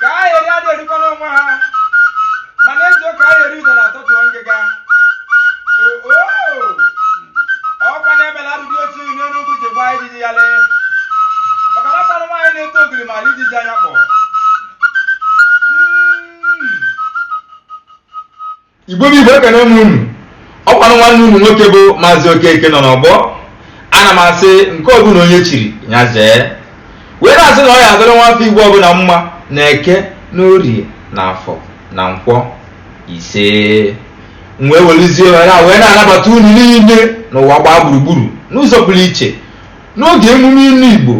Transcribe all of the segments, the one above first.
ka a eri adị erikwa n'onwe ha ma na-ezo ka a eri udo na atọtụọ ngịga oo ọkwa na-emela arụdị otu iyi n'elu ugwu ji gbaa ijiji ya lee maka na mmanụ nwaanyị na-eto ogiri malụ ijiji anya kpọ igbo bụ igbo ekene m unu ọkwanụ nwanne unu nwoke bụ maazị okeke nọ n'ọgbọ ana m asị nke ọbụla onye chiri ya zee wee na-asị na ọ ya adịrị nwafọ igbo ọbụla mma na eke na orie na afọ na nkwọ ise m wee welizie ohere a wee na-anabata unu niile n'ụwa gbaa gburugburu n'ụzọ pụrụ iche n'oge emume inu igbo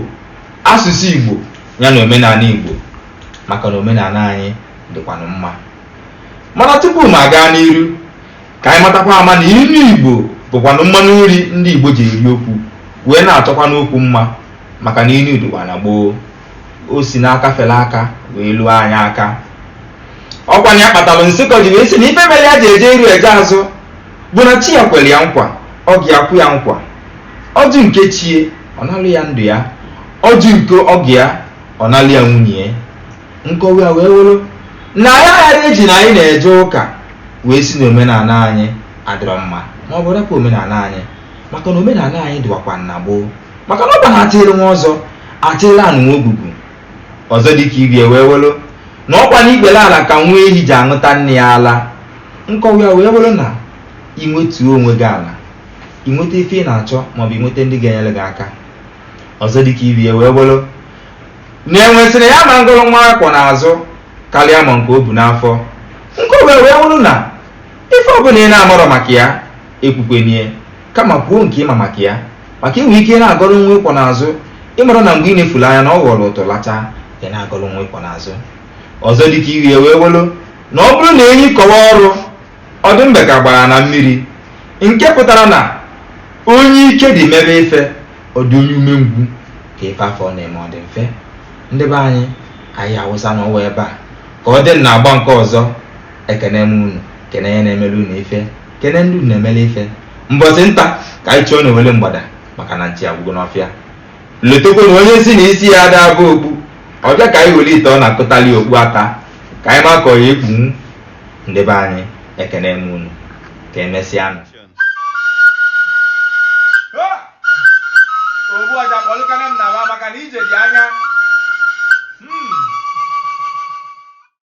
asụsụ igbo ya na omenala igbo maka na omenala anyị dịkwanụ mma mana tupu m agaa n'iru ka anyị matakwa ama na inu igbo bụkwanụ mmanụ nri ndị igbo ji eri okwu wee na-achọkwanụ okwu mma maka na inu dịkwa na gboo o si n'aka fere aka wee luo anyị aka ọkwanụ ya kpatalụ nsịkọ ji wee sị na ife mere ya ji eje iru eje azụ bụ na chi ya kwere ya nkwa ọgọ ya kwe ya nkwa ọ jụ nke chi ya ọ nalụ ya ndụ ya ọ jụ nke ọgọ ya ọ nalụ ya nwunye ya nkọwa ya wee wụrụ na anyị aya eji na anyị na-eje ụka wee sị na omenala anyị adịrọ mma ma ọ bụ rapụ omenala anyị maka na omenala anyị dịwakwa na gboo maka na ọ bụ na atịrị nwa ọzọ atịrị anụ nwa ogugu ọzọ dị ka ibe ya wee wụrụ na ọkwa na ikpere ala ka nwa ehi ji aṅụta nne ya ala nkọwa ya wee wụrụ na i wetuo onwe gị ala i nweta ife ị na-achọ maọbụ i nweta ndị ga-enyere gị aka ọzọ dịka ibe ya wee wụrụ Na enwe sịrị ya ama ngọlụ nwa ọ kwọ n'azụ karịa ma nke o bu n'afọ. Nkọwa ya wee wụrụ na ife ọbụla ị na-amarọ maka ya ekwukwene ya kama kwuo nke ị ma maka ya maka i nwee ike na-agọrọ nwa ị kwọ n'azụ ị marọ na mgbe i nefulu anya na ọ ghọrọ ụtụ lacha ị na-agọrọ nwa ị kwọ n'azụ. Ọzọ dịka ibe ya wee wụrụ na ọ bụrụ na enyi kọwa ọrụ Ọ dị mbe ka gbara na mmiri, nke pụtara na onye ike dị mebe ife, ọ dị onye umengwu ka ife afụ ọ na-eme ọ dị mfe. Ndị be anyị, anyị awụsanụ ọwa ebe a ka ọ dị na agba nke ọzọ. Ekene m unu, kene onye na-emere unu ife, kene ndị unu na-emere ife. Mbọsị nta ka anyị chụọ n'owele mgbada maka na nchi agwụgo n'ọfịa. Lotekwa na onye sị na isi ya ada aba okpu, ọ bịa ka anyị were ite ọna kụtalụ ya okpu ata ka anyị ma ka ọ ya ekpunwu. ndị be anyị ekene m unu ka emesịanụ ogbu ọja kpọlụkwanụ m naa maka na ije dị anya